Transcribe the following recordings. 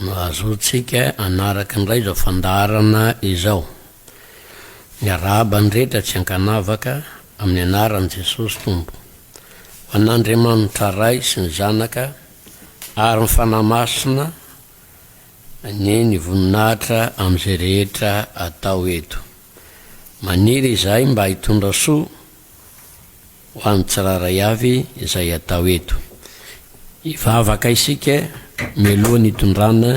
no azontsika hanaraka indray izao fandaharana izao. Miarahaba ny rehetra tsy ankanavaka amin'ny anaran'i Jesosy Tompo. Ho an'Andriamanitra Ray sy ny Zanaka ary ny Fanahy Masina anie ny voninahitra amin'izay rehetra atao eto. Maniry izahay mba hitondra soa Ho an'ny tsirairay avy izay atao eto. Hivavaka isika mialoha ny hitondrana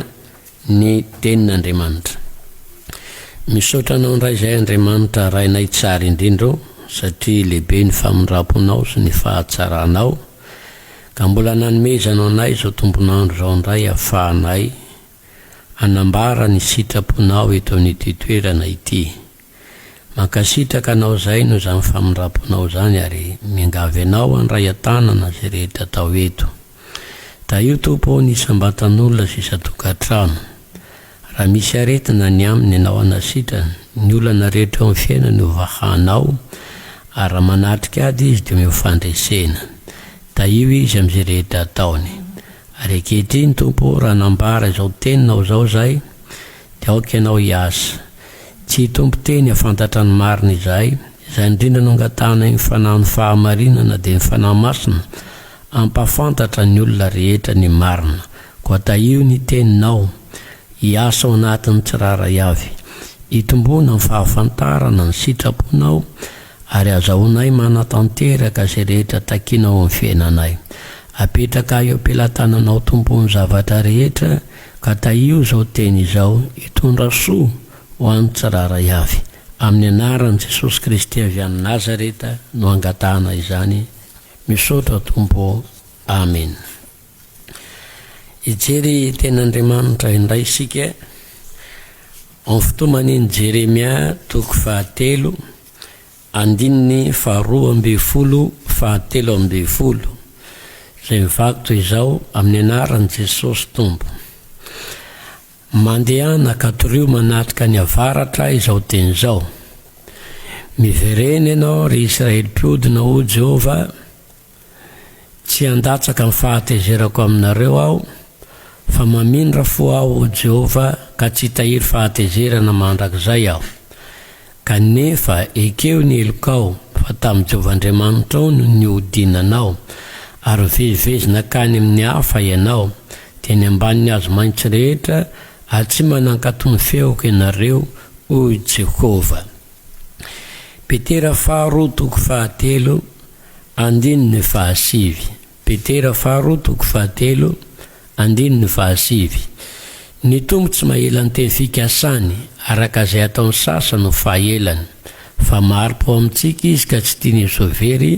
ny Tenin'Andriamanitra. Misaotra Anao indray izay Andriamanitra Rainay tsara indrindra ô, satria lehibe ny famindram-ponao sy ny fahatsaranao, ka mbola nanomezanao anay izao tombon'andro izao indray ahafahanay hanambara ny sitraponao eto amin'ity toerana ity. Mankasitraka anao zay noho izany famindramponao izany ary miangavy anao handray an-tanana izay rehetra atao eto. Tahio Tompo ao ny isam-batan'olona sy isan-tokantrano. Raha misy aretina ny aminy ianao hanasitra, ny olana rehetra eo amin'ny fiainany ho vahanao ary raha manatrika ady izy dia omeo fandresena. Tahio izy amin'izay rehetra ataony. Ary ankehitriny Tompo ô raha nambara izao teninao izao zay Dia aoka ianao hiasa. Tsy hitompo teny hahafantatra ny marina izahay. Izay indrindra no angatahanay ny Fanahin'ny Fahamarinana dia ny Fanahy Masina hampahafantatra ny olona rehetra ny marina. Koa tahio ny Teninao hiasa ao anatin'ny tsirairay avy. Itomboana ny fahafantarana ny sitraponao ary azahoanay manatanteraka izay rehetra takinao amin'ny fiainanay. Apetrakahy eo am-pelatananao Tompo ny zavatra rehetra Ka tahio izao teny izao hitondra soa ho an'ny tsirairay avy. Amin'ny anaran'i Jesosy Kristy avy any Nazareta no angatahana izany, misaotra Tompo ô, Amena. Hijery Tenin'Andriamanitra indray isika, amin'ny fitoman'iny Jeremia toko fahatelo Andininy faharoa ambin'ny folo fahatelo ambin'ny folo izay mivaky toy izao, Amin'ny anaran'i Jesosy Tompo. Mandehana ka torio manatrika any avaratra izao teny izao, Miverena ianao, ry Isiraely mpiodina, hoy Jehovah, Tsy handatsaka ny fahatezerako aminareo aho, fa mamindra fo aho ho Jehovah ka tsy hitahiry fahatezerana mandrakizay aho. Kanefa ekeo ny helokao, fa tamin'i Jehovah Andriamanitrao no nihodinanao, ary vezivezy nankany amin'ny hafa ianao, dia ny ambanin'ny hazo maitso rehetra atsimo nankato ny feoko ianareo, hoy Jehovah. Petera faharoa toko fahatelo. Andininy fahasivy. Petera faharoa toko fahatelo, andininy fahasivy. Ny Tompo tsy maela ny teny fikasany, araka izay ataon'ny sasany ho fahaelany, fa mari-po amintsika Izy ka tsy tiany ho so very,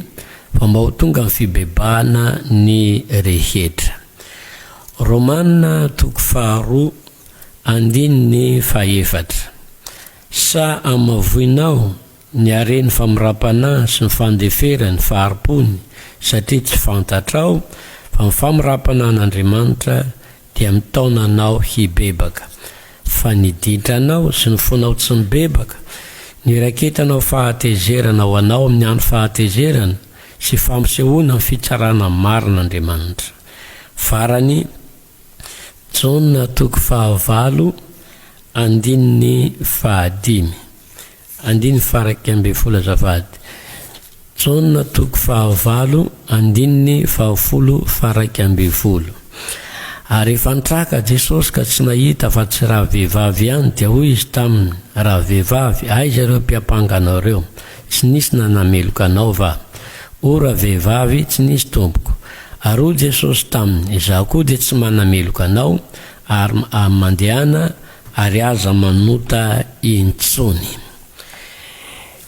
fa mba ho tonga amin'ny fibebahana ny rehetra. Romana toko faharoa, andininy fahefatra. Sa amin'ny maha voinao? Ny hareny famirapanahiny sy ny fandeferany fahari-pony satria tsy fantatrao fa ny famirampanahin'Andriamanitra dia mitaona anao hibebaka. Fa ny ditranao sy ny fonao tsy mibebaka, ny iraiketanao fahatezerana ho anao amin'ny andro fahatezerana sy fampisehoana ny fitsarana marin'Andriamanitra. Farany, Jaona toko fahavalo, andininy fahadimy. Andininy faha iraika ambin'ny folo Azafady. Jaona toko faha valo andininy faha folo faha iraika ambin'ny folo Ary rehefa nitraka Jesosy ka tsy nahita afa tsy raha vehivavy ihany, dia hoy Izy taminy, Raha vehivavy, aiza ireo mpiampanga anao ireo? Tsy nisy nanameloka anao va? O raha vehivavy, tsy nisy Tompoko. Ary hoy Jesosy taminy, Izaho koa dia tsy manameloka anao, ary, ary mandehana, ary aza manota intsony.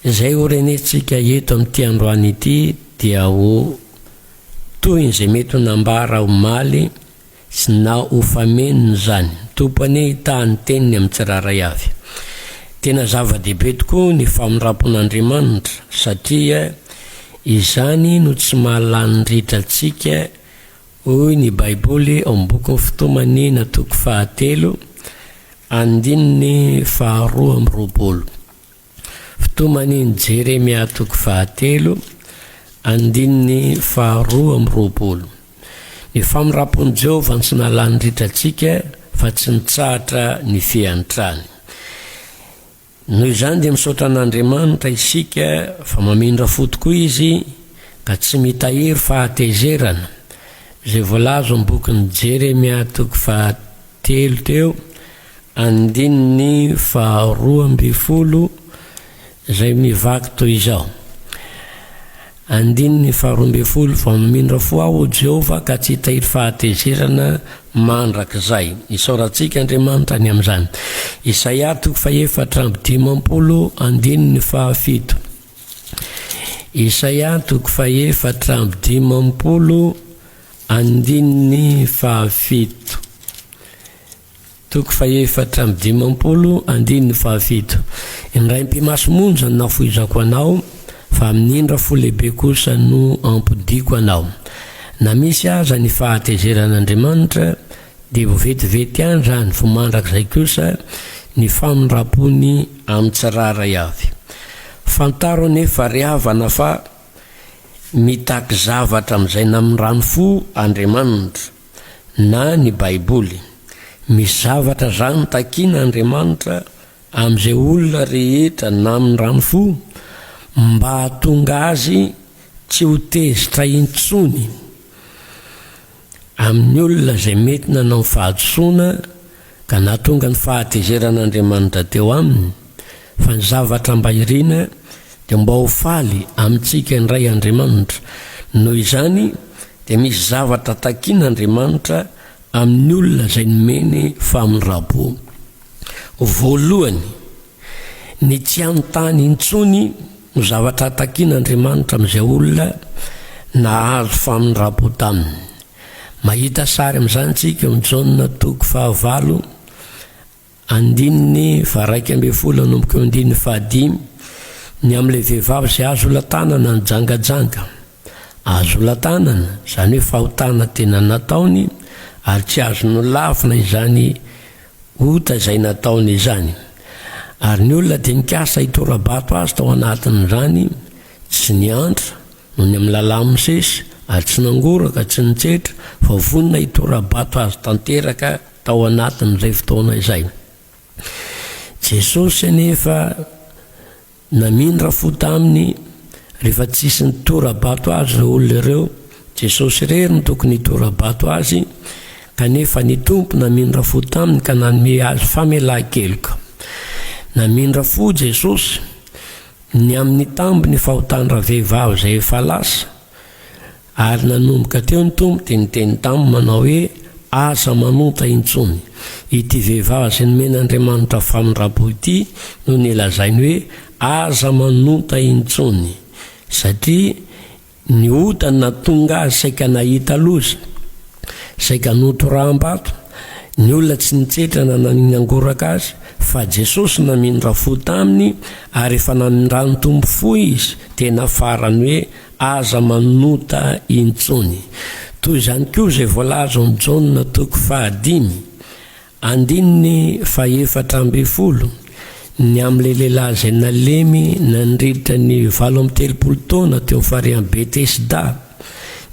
Izay ho renentsika eto amin'ity androany ity dia ho tohin'izay mety ho nambara omaly sy na ho famenony izany. Tompo anie hitaha ny teniny amin'ny tsirairay avy. Tena zava-dehibe tokoa ny famindram-pon'Andriamanitra satria izany no tsy maha-lanin'ny ritra antsika Hoy ny Baiboly ao amin'ny bokin'ny Fitoman'ny na toko fahatelo, andininy faharoa amby roapolo. Fitoman'ny Jeremia toko fahatelo, andininy faharoa amby roapolo. Ny famindram-pon'i Jehovah no tsy nalany ritra antsika, fa tsy nitsahatra ny fiantrany. Noho izany dia misaotra an'Andriamanitra isika fa mamindra fo tokoa Izy ka tsy mitahiry fahatezerana, izay voalaza ao amin'ny bokin'i Jeremia toko fahatelo teo, andininy faharoa ambin'ny folo, izay mivaky toy izao, Andininy faharoa ambin'ny folo, Vao mamindra fo aho, O Jehovah, ka tsy hitahiry fahatezerana mandrakizay. Isaorantsika Andriamanitra ny amin'izany. Isaia toko fahefatra amby dimampolo, andininy fahafito. Isaia toko fahefatra amby dimampolo, andininy fahafito. Toko fahefatra amby dimampolo, andininy fahafito. Indraim-pimaso monja no nafoizako anao, fa amin'ny indra fo lehibe kosa no ampodiako anao. Na misy aza ny fahatezeran'Andriamanitra, dia ho vetivety any izany, fa mandrakizay kosa ny famindram-pony amin'ny tsirairay avy. Fantaro anefa, ry havana, fa mitaky zavatra amin'izay namindrany fo Andriamanitra. na ny Baiboly. Misy zavatra zany takiana Andriamanitra amin'izay olona rehetra namin'ny rano fo mba hahatonga azy tsy ho tezitra intsony amin'ny olona izay mety nanao ny fahadisoana ka nahatonga ny fahatezeran'Andriamanitra teo aminy, fa ny zavatra mba irina dia mba ho faly amintsika indray Andriamanitra, noho izany dia misy zavatra takin'Andriamanitra amin'ny olona izay nomeny famindram-po. Voalohany, ny tsy hanontany intsony no zavatra takin'Andriamanitra amin'izay olona nahazo famindram-po taminy. Mahita sary amin'izany isika eo amin'ny Jaona toko fahavalo andininy faharaika ambin'ny folo hanomboka eo andininy fahadimy ny amin'ilay vehivavy izay azo olatanana ny jangajanga. Azo olatanana, izany hoe fahotana tena nataony ary tsy azo nolavina izany ota izay nataony izany. Ary ny olona dia nikasa hitora-bato azy tao anatin'izany, Tsy niantra, nony amin'ny lalà misesy, ary tsy nangoraka, tsy nitsetra, fa vonona hitora-bato azy tanteraka tao anatin'izay fotoana izay. Jesosy anefa namindra fo taminy, rehefa tsisy nitora-bato azy ireo olona ireo, Jesosy irery no tokony hitora-bato azy, kanefa ny Tompo namindra fo taminy ka nanome azy famelan-keloka. Namindra fo Jesosy. Ny amin'ny tambiny fahotan-dravehivavy izay efa lasa, ary nanomboka teo ny Tompo dia niteny taminy manao hoe, Aza manonta intsony. Ity vehivavy izay nomen'Andriamanitra famindram-po ity no nolazainy hoe, Aza manonta intsony, satria Ny ota natonga azy saika nahita loza, saika notoraham-bato, ny olona tsy nitsetra na naningangoraka azy, fa Jesosy namindra fo taminy ary efa namindrany tombo fo izy, tena farany hoe aza manota intsony. Toy izany koa izay voalaza ao amin'ny Jaona toko fahadimy Andininy fahefatra ambin'ny folo, Ny amin'ilay lehilahy izay nalemy nandritra ny valo amby telopolo taona teo amin'ny farian'i Betesda,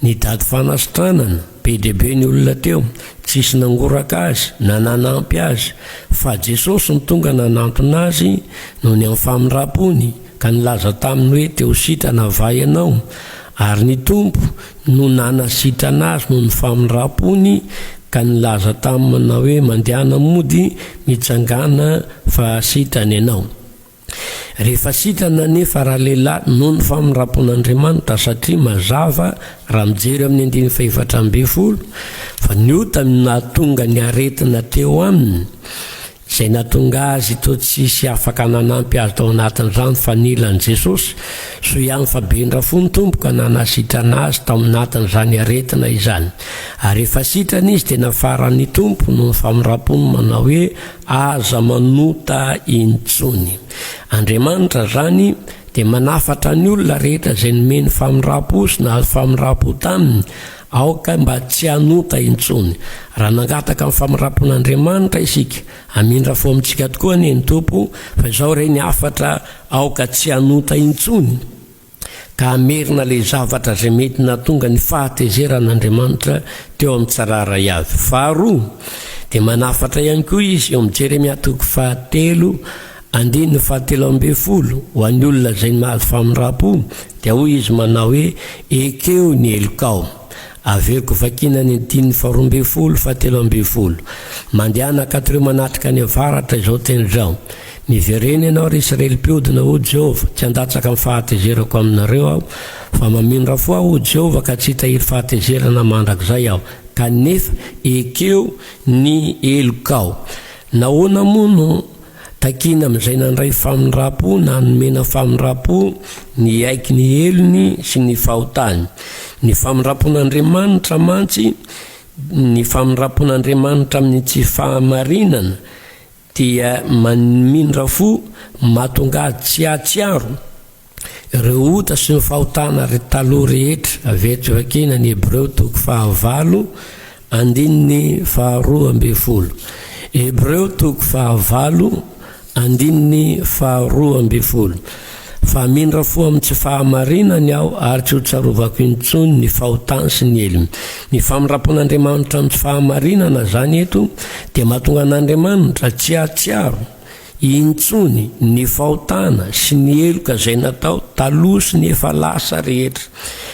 ny daty fanasitranana, be dia be ny olona teo, tsisy nangoraka azy na nanampy azy, fa Jesosy no tonga nanantona azy noho ny amin'ny famindram-pony, ka nilaza taminy hoe, Te ho sitrana va ianao? Ary ny Tompo no nanasitrana azy noho ny famindram-pony ka nilaza taminy manao hoe, Mandehana mody, mitsangàna fa sitrana ianao. Rehefa sitrana anefa ralehilahy noho ny famindram-pon'Andriamanitra satria mazava raha mijery amin'ny andininy fahefatra ambin'ny folo fa ny ota no nahatonga ny aretina teo aminy, Izay nahatonga azy toa tsy hisy afaka nanampy azy tao anatin'izany fa nila an'i Jesosy. Soa ihany fa bendra fo ny Tompo ka nanasitrana azy tao anatin'izany aretina izany. Ary efa sitrana izy dia nafaran'ny Tompo noho ny famindram-pony manao hoe, Aza manota intsony. Andriamanitra izany dia manafatra ny olona rehetra izay nomeny famindram-po sy nahazo famindram-po taminy Aoka mba tsy hanota intsony. Raha nangataka ny famindram-pon'Andriamanitra isika, hamindra fo amintsika tokoa anie ny Tompo, fa izao re ny hafatra, aoka tsy hanota intsony, ka hamerina ilay zavatra izay mety nahatonga ny fahatezeran'Andriamanitra teo amin'ny tsirairay avy. Faharoa, dia manafatra ihany koa izy eo amin'ny Jeremia toko fahatelo, Andininy fahatelo ambin'ny folo, Ho an'ny olona izay ny mahazo famindram-po, dia hoy izy manao hoe, Ekeo ny helokao. Averiko vakiana ny andininy faharoa ambin'ny folo, fahatelo ambin'ny folo. Mandehana ankato ireo manatrika any avaratra izao teny izao, Miverena ianao, ry Israely mpiodina, hoy Jehovah, tsy handatsaka ny fahatezerako aminareo Aho, fa mamindra fo Aho, hoy Jehovah, ka tsy hitahiry fahatezerana mandrakizay Aho. Kanefa ekeo ny helokao. Nahoana moa no. Takina amin'izay nandray famindram-po na nomena famindram-po ny hiaiky ny helony sy ny fahotany. Ny famindram-pon'Andriamanitra mantsy, ny famindram-pon'Andriamanitra amin'ny tsy fahamarinana, dia mamindra fo mahatonga azy tsy hahatsiaro. Ry ota sy ny fahotana ry taloha rehetra, avy eto Vakiana ny Hebreo toko fahavalo andininy faharoa ambin'ny folo. Hebreo toko fahavalo andininy faharoa ambin'ny folo. Fa mindra fo amin'ny tsy fahamarinany aho ary tsy hotsarovako intsony ny fahotany sy ny helony. Ny famindram-pon'Andriamanitra amin'ny tsy fahamarinana izany eto dia mahatonga an'Andriamanitra tsy hahatsiaro Intsony ny fahotana sy ny heloka izay natao taloha sy ny efa lasa rehetra,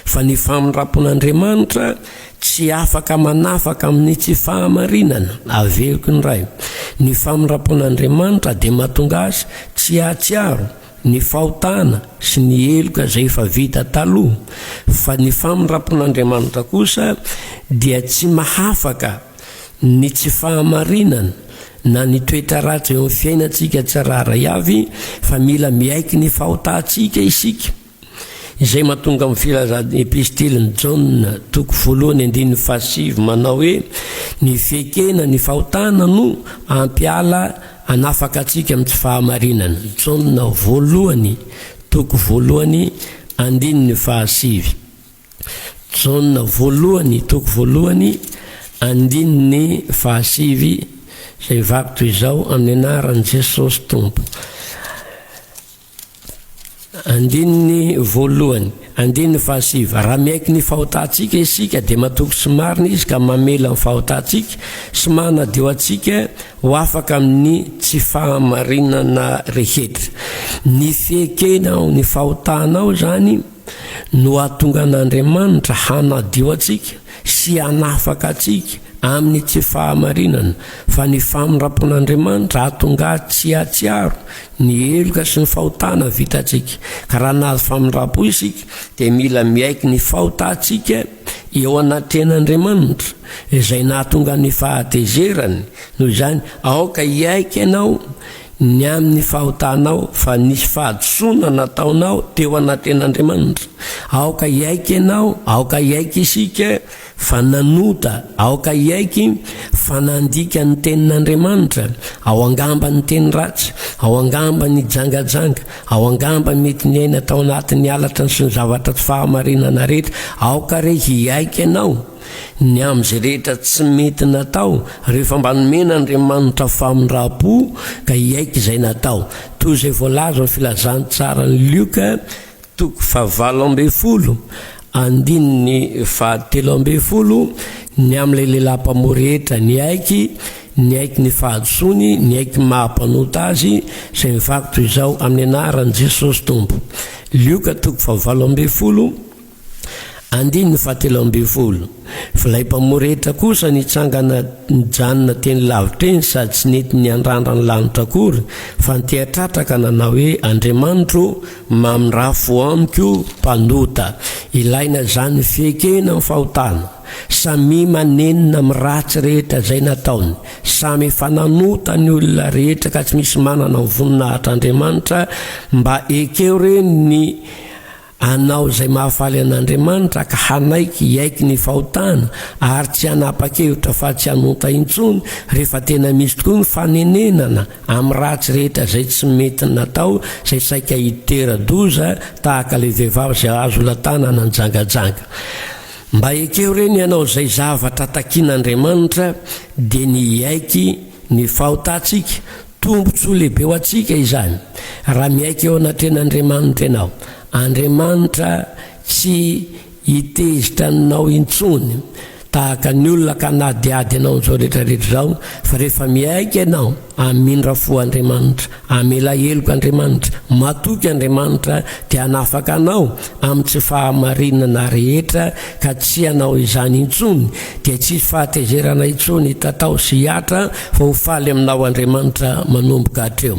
fa ny famindram-pon'Andriamanitra tsy afaka manafaka amin'ny tsy fahamarinana. Averiko indray, ny famindram-pon'Andriamanitra dia mahatonga Azy tsy hahatsiaro ny fahotana sy ny heloka izay efa vita taloha, fa ny famindram-pon'Andriamanitra kosa dia tsy mahafaka Ny tsy fahamarinana na ny toetra ratsy eo amin'ny fiainantsika tsirairay avy fa mila miaiky ny fahotantsika isika. Izay mahatonga amin'ny filazan'ny Epistilin'i Jaona toko voalohany andininy fahasivy manao hoe ny fiekena ny fahotana no hampiala hanafaka antsika amin'ny tsy fahamarinana. Jaona voalohany toko voalohany andininy fahasivy. Jaona voalohany, toko voalohany, andininy fahasivy, izay mivaky toy izao, Amin'ny anaran'i Jesosy Tompo. Andininy voalohany, andininy fahasivy, raha miaiky ny fahotantsika isika, dia matoky sy marina izy ka mamela ny fahotantsika sy manadio antsika ho afaka amin'ny tsy fahamarinana rehetra. Ny fiekena ao ny fahotanao izany, no hahatonga an'Andriamanitra hanadio antsika sy hanafaka antsika amin'ny tsy fahamarinana, fa ny famindram-pon'Andriamanitra hahatonga ahy tsy hahatsiaro ny heloka sy ny fahotana vitantsika. Ka raha nahazo famindram-po isika, dia mila miaiky ny fahotantsika eo anatrehan'Andriamanitra, izay nahatonga ny fahatezerany. Noho izany, aoka hiaiky ianao Ny amin'ny fahotanao fa nisy fahadisoana nataonao teo anaten'Andriamanitra. Aoka hiaiky ianao, aoka hiaiky isika fa nanota, aoka hiaiky fa nandika ny Tenin'Andriamanitra, ao angamba niteny ratsy, ao angamba nijangajanga, ao angamba mety niaina tao anatin'ny halatra sy ny zavatra tsy fahamarinana rehetra. Aoka re hiaiky ianao. Ny amin'izay rehetra tsy mety natao, rehefa mba nomen'Andriamanitra famindram-po ka hiaiky izay natao, toy izay voalaza amin'ny Filazantsaran'i Lioka toko fahavalo ambin'ny folo, andininy fahatelo ambin'ny folo, Ny amin'ilay lehilahy mpamoa rehetra niaiky, niaiky ny fahadisoany, niaiky ny maha-mpanota azy, izay mivaky toy izao, Amin'ny anaran'i Jesosy Tompo. Lioka toko fahavalo ambin'ny folo. Andininy fahatelo ambin'ny folo, Filay mpamory rehetra kosa nitsangana nijanona teny lavitra eny sady tsy nety niandrandra ny lanitra akory fa niteha-tratra ka nanao hoe, Andriamanitro ô, mamindrafo amiko mpanota. Ilaina izany fiekena ny fahotana. Samia manenina amin'ny ratsy rehetra izay nataony. Samy efa nanota ny olona rehetra ka tsy misy manana ny voninahitr'Andriamanitra. Mba ekeo re ny. Hanao izay mahafaly an'Andriamanitra ka hanaiky hiaiky ny fahotana ary tsy hanapa-kevitra fa tsy hanonta intsony rehefa tena misy tokoa ny fanenenana amin'ny ratsy rehetra izay tsy mety natao izay saika hitera-doza tahaka ilay vehivavy izay hahazo olo-an-tanana nijangajanga. Mba ekeo re ny hanao izay zavatra takian'Andriamanitra dia ny hiaiky ny fahotantsika, Tombontsoa lehibe ho antsika izany raha miaiky eo anatrehan'Andriamanitra ianao. Andriamanitra tsy hitezitra anao intsony tahaka ny olona ka hanadihady anao amin'izao rehetrarehetra izao fa rehefa miaiky ianao, hamindra fo Andriamanitra, hamela heloka Andriamanitra, matoky Andriamanitra dia hanafaka anao amin'ny tsy fahamarinana rehetra ka tsy hanao izany intsony, dia tsy hisy fahatezerana intsony hitatao sy hihatra fa ho faly aminao Andriamanitra manomboka hatreo.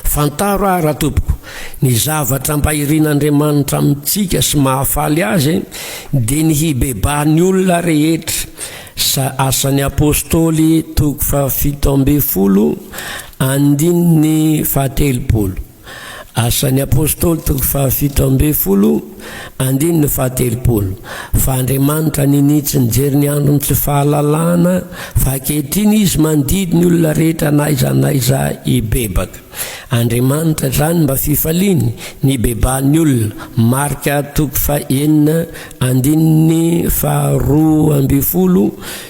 Fantaro aho raha tompoko, ny zavatra mba irin'Andriamanitra amintsika sy mahafaly Azy dia ny hibebaha ny olona rehetra, sa Asan'ny Apostoly toko fahafito ambin'ny folo andininy fahatelopolo. Asan'ny Apôstôly toko fahafito ambin'ny folo, andininy fahatelopolo, Fa Andriamanitra ninitsy ny jerin'ny andron'ny tsy fahalalana, fa ankehitriny Izy mandidy ny olona rehetra na aiza na aiza hibebaka. Andriamanitra izany mba fifaliany, nibebahan'ny olona, Marka toko fahenina, andininy faharoa ambin'ny folo,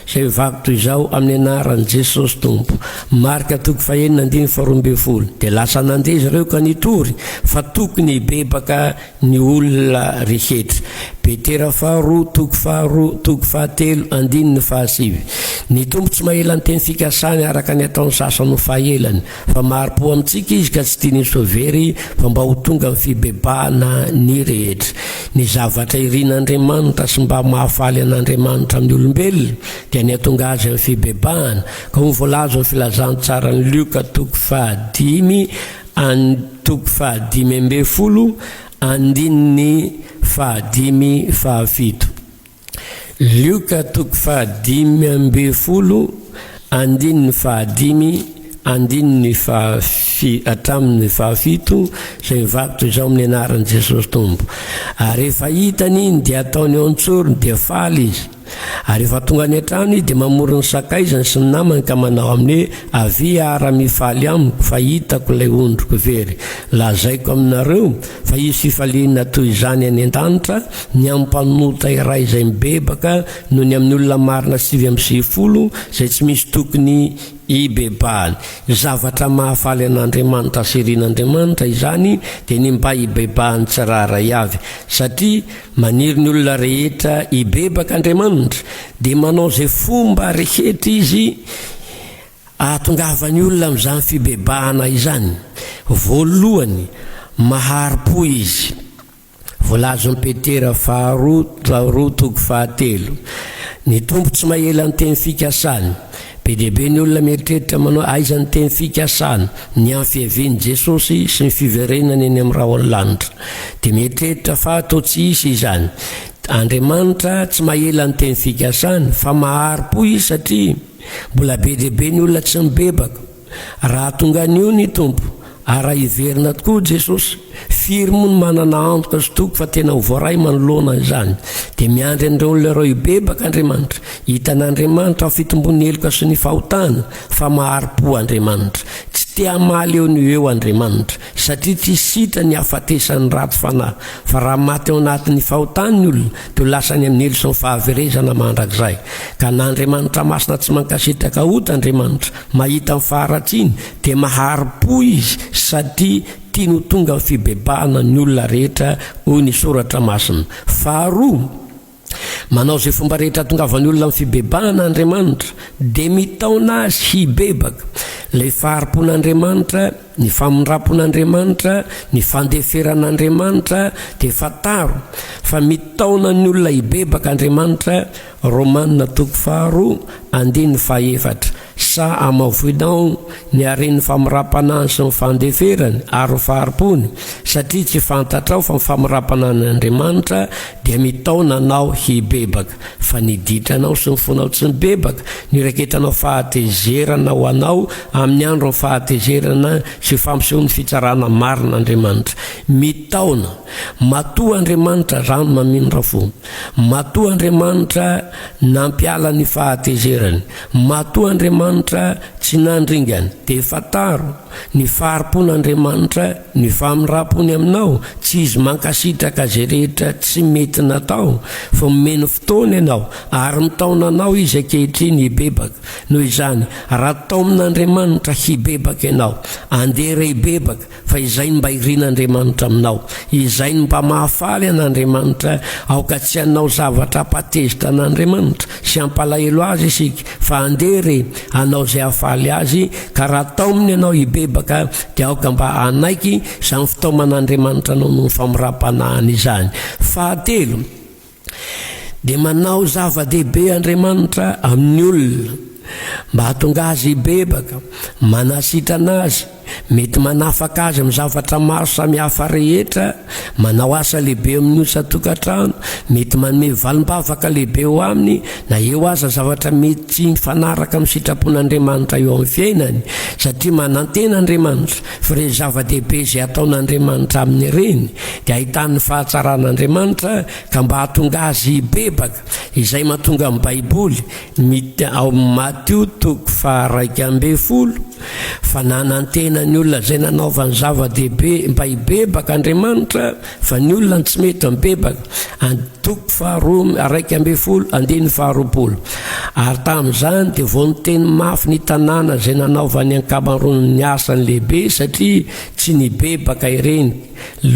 Izay mivavy toy izao amin'ny anaran'i Jesosy Tompo, Marka toko fahenina andininy faharoa ambin'ny folo, dia lasa nandeha izy ireo ka nitory fa tokony hibebaka ny olona rehetra. Petera faharoa toko faharoa toko fahatelo andininy fahasivy. Ny Tompo tsy mahela ny teny fikasany araka ny ataon'ny sasany ho fahelany, Fa mari-po amintsika izy ka tsy tiany ho sovery fa mba ho tonga amin'ny fibebahana ny rehetra. Ny zavatra irin'Andriamanitra sy mba mahafaly an'Andriamanitra amin'ny olombelona dia ny hatonga azy amin'ny fibebahana, ka ho voalaza ao amin'ny Filazantsaran'i Lioka toko fahadimy and toko fahadimy ambin'ny folo andininy fahadimy, fahafito. Lioka toko fahadimy ambin'ny folo andininy fahadimy andininy fahafi hatramin'ny fahafito izay mivakotra izao amin'ny anaran'i Jesosy Tompo. Ary rehefa hitany iny dia ataony eo an-tsorony dia faly izy. Ary rehefa tonga any an-trano izy dia mamory ny sakaizany sy ny namany ka manao aminy hoe, Avia ara mifaly amiko fa hitako ilay ondriko very. Lazaiko aminareo, Fa hisy fifaliana toy izany any an-danitra ny amin'ny mpanota iray izay mibebaka noho ny amin'ny olona marina sivy amby sivifolo izay tsy misy tokony hibebahany. Zavatra mahafaly an'Andriamanitra sy irin'Andriamanitra izany dia ny mba hibebahan'ny tsirairay avy. Satria maniry ny olona rehetra hibebaka Andriamanitra dia manao izay fomba rehetra izy Ahatongavan'ny olona amin'izany fibebahana izany, voalohany, mahari-po izy. Voalazon'i Petera faharoa faharoa toko fahatelo. Ny Tompo tsy mahela ny teny fikasany. Be dia be ny olona mieritreritra manao aiza ny teny fikasany, ny amin'ny fiavian'i Jesosy sy ny fiverenany eny amin'ny rahon'ny lanitra. Dia mieritreritra fa toa tsy hisy izany. Andriamanitra tsy mahela ny teny fikasany, fa mahari-po Izy satria. Mbola be dia be ny olona tsy mibebaka. Raha tonga anio ny Tompo, ary raha hiverina tokoa Jesosy, firy moa no manana antoka sy toky fa tena ho voaray manoloana izany? Dia miandry an'ireo olona ireo hibebaka Andriamanitra, hita an'Andriamanitra ao fitombon'ny heloka sy ny fahotana, fa mahari-po Andriamanitra. Tsy te-hamaly eo no ho eo Andriamanitra. Satria tsy sitra ny hahafatesan'ny ratsy fanahy, fa raha maty ao anatin'ny fahotany ny olona, dia ho lasa any amin'ny helo sy ny fahaverezana mandrakizay. Ka na Andriamanitra masina tsy mankasitraka ota Andriamanitra, mahita ny faharatsiany, dia mahari-po Izy satria tiany ho tonga amin'ny fibebahana ny olona rehetra, hoy ny Soratra Masina. Faharoa. Manao izay fomba rehetra hahatongavan'ny olona amin'ny fibebahana Andriamanitra, dia mitaona azy hibebaka. Ilay fahari-pon'Andriamanitra, ny famindram-pon'Andriamanitra, ny fandeferan'Andriamanitra, dia fantaro fa mitaona ny olona hibebaka Andriamanitra, Romana toko faharoa, andininy fahaefatra. Sa amavoinao ny haren'ny famirapanany sy ny fandeferany ary ny fahari-pony, satria tsy fantatrao fa ny famirapanany Andriamanitra dia mitaona anao hibebaka, fa ny ditranao sy ny fonao tsy mibebaka, ny iraketanao fahatezerana ho anao amin'ny andron'ny fahatezerana sy fampisehoan'ny fitsarana marina Andriamanitra. Mitaona. Matoa Andriamanitra rano mamindrafo. Matoa Andriamanitra nampiala ny fahatezerany. Matoa Andriamanitra tsy nandringany dia fantaro ny fahari-pon'Andriamanitra ny famindram-pony aminao, tsy izy mankasitraka izay rehetra tsy mety natao, fa omeny fotoana ianao ary mitaona anao izy ankehitriny hibebaka, noho izany raha taomin'Andriamanitra hibebaka ianao, andeha re hibebaka, Fa izay no mba irin'Andriamanitra aminao, izay no mba mahafaly an'Andriamanitra, aoka tsy hanao zavatra hampatezitra an'Andriamanitra sy hampalahelo Azy isika, fa andeha re hanao izay hahafaly Azy, ka raha taominy ianao hibebaka, dia aoka mba hanaiky izany fitaoman'Andriamanitra anao noho ny famirapanahiny izany. Fahatelo. dia manao zava-dehibe Andriamanitra amin'ny olona mba hahatonga azy hibebaka, manasitrana azy, mety manafaka azy amin'ny zavatra maro samihafa rehetra, manao asa lehibe amin'ny osa-tokantrano, mety manome valim-bavaka lehibe ho aminy na eo aza zavatra mety tsy mifanaraka amin'ny sitrapon'Andriamanitra eo amin'ny fiainany, satria manantena Andriamanitra. Fa ireny zava-dehibe izay ataon'Andriamanitra aminy ireny dia ahitany ny fahatsaran'Andriamanitra ka mba hahatonga azy hibebaka, izay mahatonga ny Baiboly miteny ao amin'ny Matio toko faharaika ambin'ny folo fa nanantena ny olona izay nanaovany zava-dehibe mba hibebaka Andriamanitra, Fa ny olona no tsy mety amin'ny bebaka, and. Toko faharoa iraika ambin'ny folo, andininy faharoapolo. Ary tamin'izany dia vao niteny mafy ny tanàna izay nanaovany ankamaroan' ny asany lehibe, satria tsy nibebaka ireny.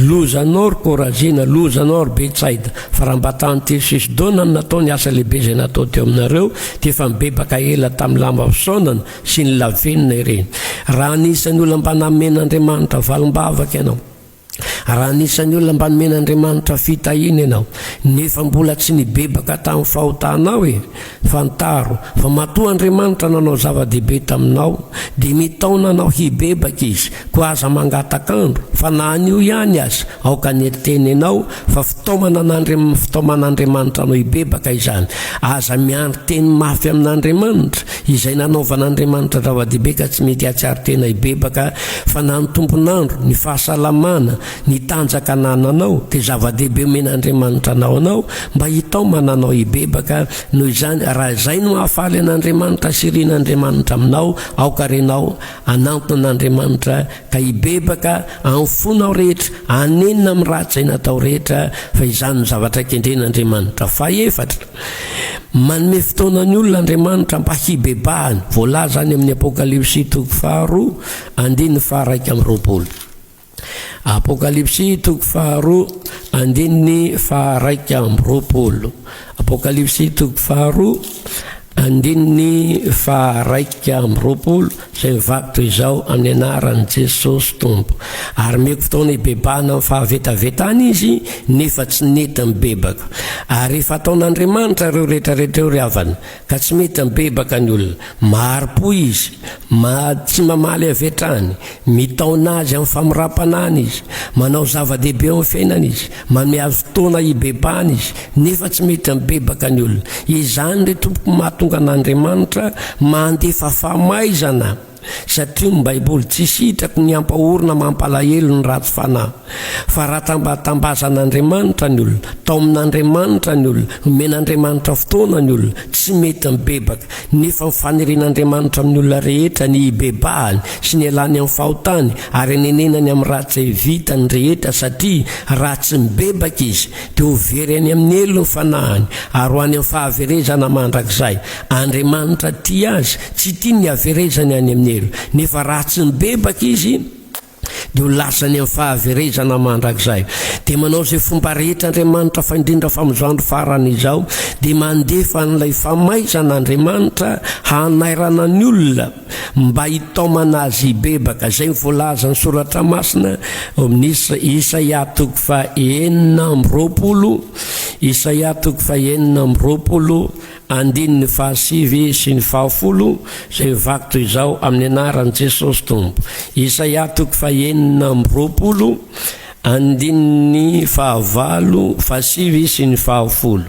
Loza anao, ry Korazina! Loza anao, ry Betsaida! Fa raha mba tany Tiro sy Sidona no natao ny asa lehibe izay natao teo aminareo, dia efa nibebaka ela tamin'ny lamba fisaonana sy ny lavenona ireny. Raha anisan'ny olona mba namen'Andriamanitra valim-bavaka ianao, Raha anisan'ny olona mba nomen'Andriamanitra fitahiana ianao, nefa mbola tsy nibebaka tamin'ny fahotanao e, fantaro fa matoa Andriamanitra nanao zava-dehibe taminao, dia mitaona anao hibebaka Izy. Koa aza mangataka andro, fa na anio ihany aza, aoka ny eteny ianao, fa fitaomanan'Andriamanitra anao hibebaka izany. Aza miandry teny mafy amin'Andriamanitra. Izay nanaovan'Andriamanitra zava-dehibe ka tsy mety hahatsiaro tena hibebaka fa na ny tompon'andro, ny fahasalamana, ny tanjaka anananao dia zava-dehibe omen'Andriamanitra anao anao mba hitaomana anao hibebaka, noho izany raha izay no hahafaly an'Andriamanitra sy irin'Andriamanitra aminao aoka renao hanantona an'Andriamanitra ka hibebaka amin'ny fonao rehetra hanenina amin'ny ratsy izay natao rehetra fa izany no zavatra kendren'Andriamanitra. Fahefatra. Manome fotoana ny olona Andriamanitra mba hibebahany, voalaza any amin'ny Apokalypsy toko faharoa andininy faharaika amby roapolo. Apokalypsy toko faharoa andininy faharaika amby roapolo. Apokalypsy toko faharoa andininy faharaika amby roapolo. izay mivaky toy izao amin'ny anaran'i Jesosy Tompo. Ary meko fotoana hibebahana amin'ny fahavetavetany izy nefa tsy nety nibebaka. Ary efa ataon'Andriamanitra ireo rehetrarehetra ireo ry havana, ka tsy mety mibebaka ny olona. Mahari-po izy, ma, tsy mamaly avy hatrany, mitaona azy amin'ny famirapanany izy, manao zava-dehibe eo amin'ny fiainany izy. Manome azy fotoana hibebahana izy, nefa tsy mety mibebaka ny olona. Izany, ry tompoko, mahatonga an'Andriamanitra mandefa famaizana, satria ny Baiboly tsy sitraky ny hampahorina mampalahelo ny ratsy fanahy. Fa raha tambatambazan'Andriamanitra ny olona, taomin'Andriamanitra ny olona, nomen'Andriamanitra fotoana ny olona, tsy mety mibebaka. Nefa ny faneren'Andriamanitra amin'ny olona rehetra ny hibebahany sy ny hialany amin'ny fahotany ary hanenenany amin'ny raha tsy vitany rehetra satria raha tsy mibebaka izy dia ho very any amin'ny helo ny fanahiny ary ho any amin'ny fahaverezana mandrakizay. Andriamanitra tia azy, tsy tiany ny haverezany any amin'ny helo nefa raha tsy mibebaka izy, dia ho lasa any amin'ny fahaverezana mandrakizay. Dia manao izay fomba rehetra Andriamanitra fa indrindra fa amin'izao andro farany izao dia mandefa an'ilay famaizana Andriamanitra hanairana ny olona mba hitaomana azy hibebaka. Izay ny voalazan'ny soratra masina ao amin'ny Isaia toko fahenina amby roapolo, Isaia toko fahenina amby roapolo, Andininy fahasivy sy ny fahafolo izay vaky toy izao amin'ny anaran'i Jesosy Tompo. Isaia toko fahenina amby roapolo andininy fahavalo, fahasivy sy ny fahafolo.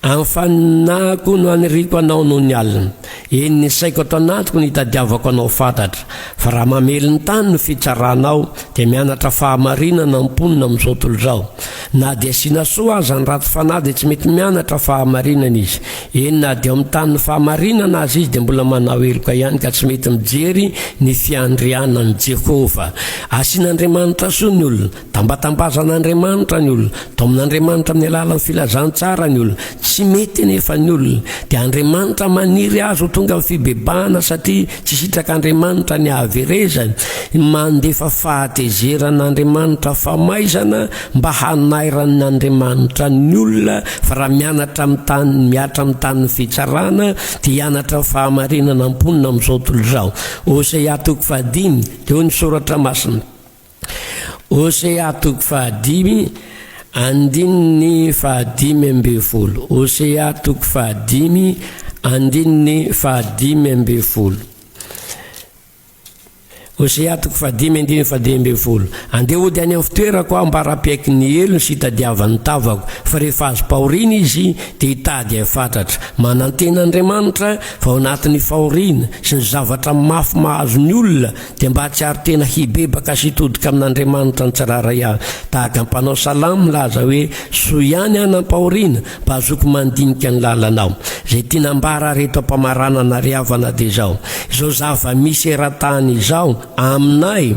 Anfanina koa no haniriako anao noho ny alina. Eny ny saiko ato anatiko no itadiavako anao fatratra fa raha mamely ny tany no fitsaranao dia mianatra fahamarinana ny mponina amin'izao tolo izao na dia asiana soa aza ny ratsy fanahy dia tsy mety mianatra fahamarinana izy eny na dia ao amin'ny tany ny fahamarinana aza izy dia mbola manao heloka ihany ka tsy mety mijery ny fiandrianan'i Jehovah asian'Andriamanitra soa ny olona Tambatambazan'Andriamanitra ny olona, taomin'Andriamanitra amin'ny alalan'ny filazantsara ny olona. Tsy mety anefa ny olona, dia Andriamanitra maniry azy ho tonga amin'ny fibebahana satria tsy sitrak'Andriamanitra ny hahaverezany. Mandefa fahatezerana Andriamanitra famaizana mba hanairan'ny Andriamanitra ny olona, fa raha mianatra amin'ny tany, miatra amin'ny tanin'ny fitsarana, dia hianatra ny fahamarinana mponina amin'izao tontolo izao. Hosea toko fahadimy, dia hoy ny Soratra Masina. Hosea toko fahadimy andininy fahadimy ambin'ny folo Hosea toko fahadimy andininy fahadimy ambin'ny folo Hosea toko fahadimy andininy fahadimy ambin'ny folo Andeha hody any amin'ny fitoerako aho mba rapehaky ny helony sy hitadiavan'ny tavako fa rehefa azo pahoriana izy dia hitady ahy fatratra Manantena Andriamanitra fa ao anatin'ny fahoriana sy ny zavatra mafy mahazo ny olona Dia mba hahatsiaro tena hibebaka sy hitodika amin'Andriamanitra nitsirairay avy, tahaka ny mpanao salamo milaza hoe, Soa ihany aho nampahoriana, mba hazoako mandinika ny lalanao. Izay tiana ambara ary eto am-pamaranana ary havana dia izao, izao zava-misy eran-tany izao, aminay,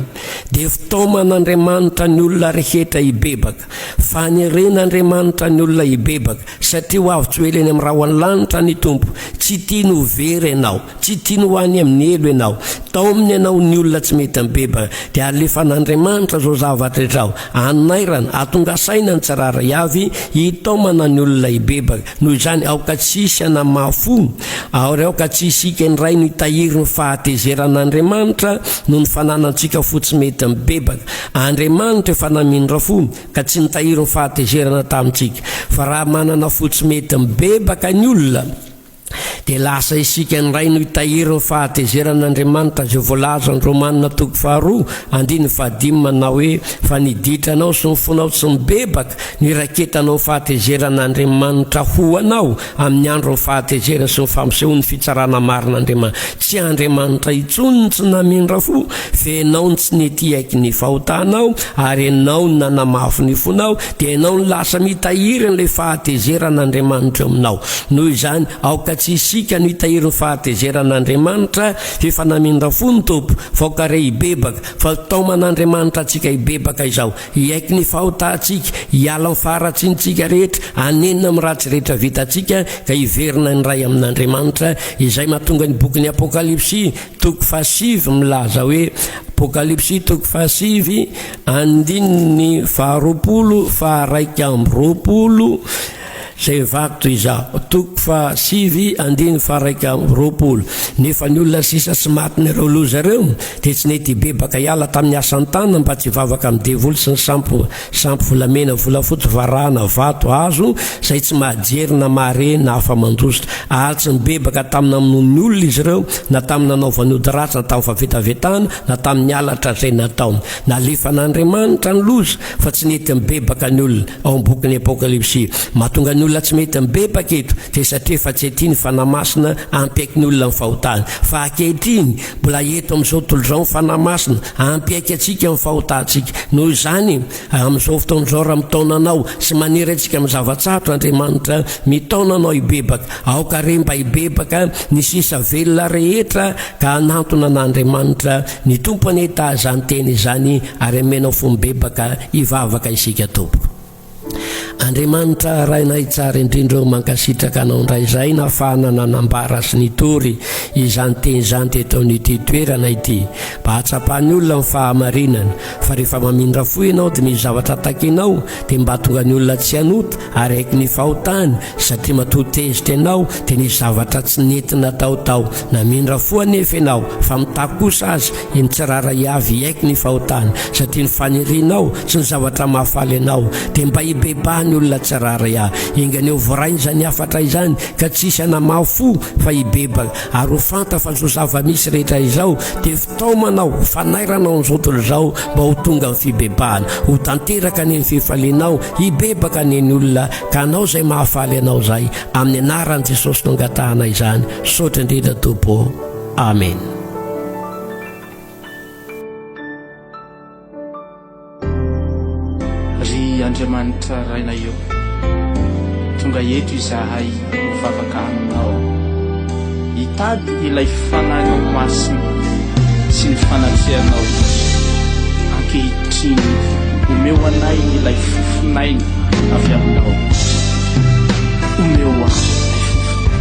dia fitaoman'Andriamanitra ny olona rehetra hibebaka. Faneren'Andriamanitra ny olona hibebaka, satria ho avy tsy ho ela eny amin'ny rahon'ny lanitra ny Tompo. Tsy tiany ho very ianao, tsy tiany ho any amin'ny helo ianao. Taominy ianao ny olona tsy mety mibebaka, dia alefan'Andriamanitra izao zavatra rehetra ao anairana, atonga saina ny tsirairay avy hitaomana ny olona hibebaka. Noho izany, aoka tsy hisy hanamafy fo, ary aoka tsy hisika ny Ray no hitahiry ny fahatezeran'Andriamanitra noho ny fananantsika fo tsy mety mibebaka. Andriamanitra efa namindra fo ka tsy nitahiry ny fahatezerana tamintsika. Fa raha manana fo tsy mety mibebaka ny olona, dia lasa isika indray no hitahiry ny fahatezeran'Andriamanitra, izay voalazan'ny Romana toko faharoa andininy fahadimy manao hoe, Fa ny ditranao sy ny fonao tsy mibebaka no iraketanao ny fahatezeran'Andriamanitra ho anao Amin'ny andron'ny fahatezerany sy ny fampisehoan'ny fitsarana marina Andriamanitra. Tsy Andriamanitra intsony ny tsy namindra fo, fa ianao no tsy nety hiaiky ny fahotanao, ary ianao no nanamafy ny fonao, dia ianao no lasa mitahiry an'ilay fahatezeran'Andriamanitra eo aminao. Noho izany, aoka tsy isika no hitahiry ny fahatezeran'Andriamanitra, fa efa namindra fo ny Tompo, fa aoka re hibebaka, fa taoman'Andriamanitra antsika hibebaka izao. Hiaiky ny fahotantsika, hiala amin'ny faharatsiantsika rehetra, hanenina amin'ny ratsy rehetra vitantsika, ka hiverina indray amin'Andriamanitra, izay mahatonga ny bokin'ny Apokalypsy toko fahasivy milaza hoe, Apokalypsy toko fahasivy andininy faharoapolo faha-raika amby roapolo, Zay vato izaho. Toko fahasivy andiny faharaika amby roapolo. Nefa ny olona sisa tsy matin'ireo loza ireo dia tsy nety hibebaka hiala tamin'ny asan-tanana mba tsy hivavaka amin'ny devoly sy ny sampy sampy volamena, volafotsy, varahina, vato, hazo, zay tsy mahajery na mahare na afa-mandositra. Ary tsy nibebaka tamin'ny namonoan'ny olona izy ireo, na tamin'ny nanaovany ody ratsy, na tamin'ny fahavetavetana, na tamin'ny halatra zay nataony. Nalefan'Andriamanitra ny loza fa tsy nety nibebaka ny olona. ao amin'ny bokin'ny Apokalypsy. Mahatonga ny olona tsy mety mibebaka eto, dia satria efa tsy ety ny Fanahy Masina hampiaiky ny olona ny fahotany. Fa ankehitriny, mbola eto amin'izao tontolo izao ny Fanahy Masina, hampiaiky antsika ny fahotantsika. Noho izany, amin'izao fotoana izao, raha mitaona anao sy maniry antsika amin'ny zava-tsarotra Andriamanitra, mitaona anao hibebaka. Aoka re mba hibebaka ny sisa velona rehetra ka hanantona an'Andriamanitra Ny Tompo anie ta zany teny izany ary amenao fo mibebaka hivavaka isika Tompoko. Andriamanitra Rainay tsara indrindra o mankasitraka anao indray izay nafahana nanambara sy nitory izany teny izany teto amin'ity toerana ity mba hatsapan'ny olona ny fahamarinana fa rehefa mamindra fo ianao dia ny zavatra takinao dia mba tonga ny olona tsy hanota Araiky ny fahotany satria matoa tezitra ianao dia nisy zavatra tsy nety natao tao. Namindra fo anefa ianao fa mitaky kosa aza iny tsirairay avy hiaiky ny fahotany satria ny fanirianao sy ny zavatra mahafaly anao dia mba hibebaha ny olona tsirairay a! Engany ho voray izany hafatra izany ka tsy hisy hanamaha fo fa hibebaka ary ho fanta fa izao zava-misy rehetra izao dia Taomanao fanairanao ny zotoly zao mba ho tonga amin'ny fibebahana, ho tanteraka anie ny fifalianao, hibebaka anie ny olona ka anao izay mahafaly anao zay, amin'ny anaran'i Jesosy no angatahana izany, misaotra indrindra Tompo ô, Amen. Ry Andriamanitra Rainay ô, tonga eto izahay mivavaka Aminao, hitady ilay Fanahinao Masina sy ny fanatrehanao izy. Ankehitriny, omeo anay ilay fofonaina avy Aminao. Omeo ahy ilay fofonaina.